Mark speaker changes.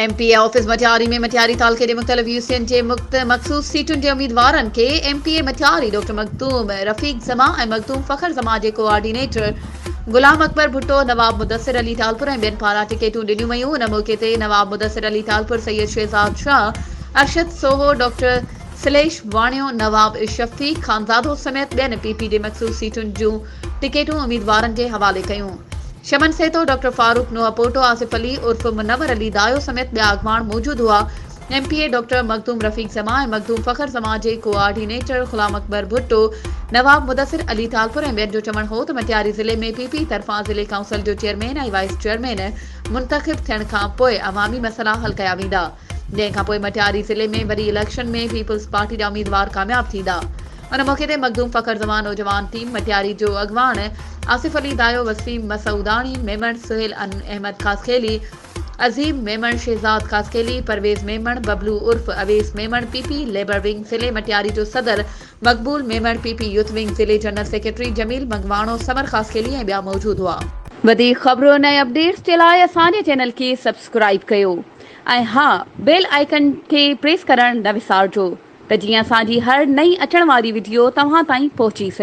Speaker 1: M P A office Matiari ۾ Matiari تعلقي جي مختلف يو سين جي مخصوص سيٽن جي اميدوارن کي M P A Matiari doctor Makhdoom Rafiq Zaman ۽ Makhdoom Fakhar Zaman جي ڪوآرڊينيٽر غلام اڪبر ڀٽو نواب مدثر علي ٽالپر ۽ ٻين پاران ٽڪيٽون ڏنيون ويون ان موقعي تي نواب مدثر علي ٽالپر سيد شهزاد شاهه ارشد سوهو ڊاڪٽر سليش واڻيو، نواب شفتي، خانزادو سميت ٻين پي پي ڊي مخصوص سيٽن جون ٽڪيٽون اميدوارن جي حوالي ڪيون. شمن سيتو، ڊاڪٽر فاروق نوحپوٽو، آصف علي عرف منور علي دايو سميت ٻيا اڳواڻ موجود هئا. M P A doctor Makhdoom Rafiq Zaman ۽ Makhdoom Fakhar Zaman جي ڪوآرڊينيٽر غلام اڪبر ڀٽو، نواب مدثر علي ٽالپر ۽ ٻين جو چوڻ هو ته مٽياري ضلعي ۾ پي پي طرفان ضلعي ڪائونسل جو چيئرمين ۽ وائيس چيئرمين منتخب ٿيڻ کانپوء عوامي مسئلا حل ڪيا ويندا. جنهن کان پوء مٽياري ضلعي ۾ وري اليڪشن ۾ پيپلز پارٽي جا اميدوار ڪامياب ٿيندا. ان موقعي تي مخدوم فخر زمان نوجوان ٽيم مٽياري جو اڳواڻ آصف علي دايو، وسيم مسعوداڻي، ميمڻ سهيل احمد خاصخيلي، عظيم ميمڻ، شهزاد خاصخيلي، پرويز ميمڻ، ببلو عرف Awais Memon, P P labour wing ضلعي مٽياري جو صدر Maqbool Memon, P P youth wing ضلعي جنرل سيڪريٽري جميل منگواڻو، ثمر خاصخيلي ۽ ٻيا موجود هئا. وڌيڪ خبرون ۽ اپڊيٽس جي لاء اسان جي چينل کي سبسڪرائيب ڪيو. ۽ ها بيل آئيڪن کي پريس ڪرڻ نه وسارجو ته جيئن اسان جي هر نئين اچڻ واري وڊيو توهان تائين پهچي سگهي.